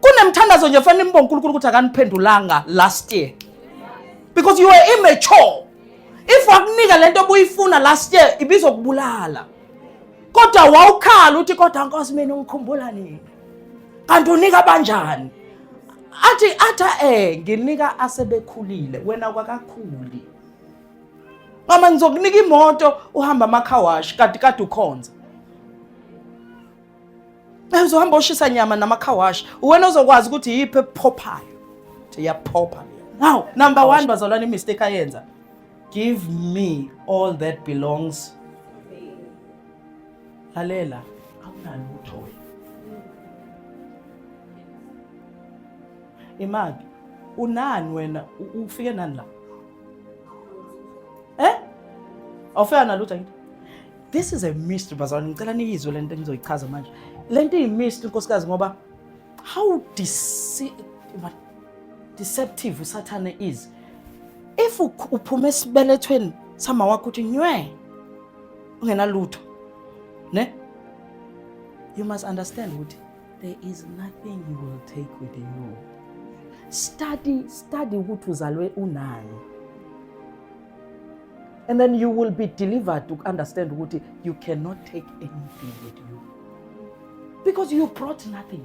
kunemthandazo nje fanele imbo uNkulunkulu ukuthi akaniphendulanga last year because you were immature if wakunika lento obuyifuna last year ibizokubulala kodwa wawukhala uthi kodwa nkosi mina ungikhumbula nini kanti unika banjani athi atha eh nginika asebekhulile wena kwakakhuli mama ngizokunika imoto uhamba amakhawashi kade kade ukhonza uzohamba oshisa nyama namakhawashi uwena ozokwazi ukuthi yiphi ephophayo iyaphopha now number one bazalwane imistake ayenza give me all that belongs lalela awunalutho wena imali unani wena ufike nani la eh awufika nalutho yini This is a mystery bazalwane, ngicela niyizwe le nto engizoyichaza manje. Le nto iyi-mystery nkosikazi ngoba how dece deceptive usathane is. If uphuma esibelethweni sama wakho uthi nywe ungenalutho ne you must understand ukuthi there is nothing you will take with you study study ukuthi uzalwe unani and then you will be delivered to understand ukuthi you cannot take anything with you because you brought nothing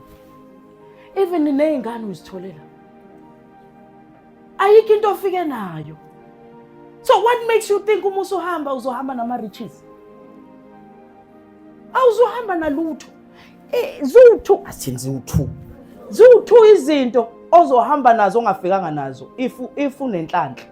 even ney'ngane uzitholela ayikho into ofike nayo so what makes you think uma usuhamba uzohamba nama-riches awuzohamba nalutho eh, ziwu-two athini ziwu-two ziwu-two izinto ozohamba nazo ongafikanga nazo if if unenhlanhla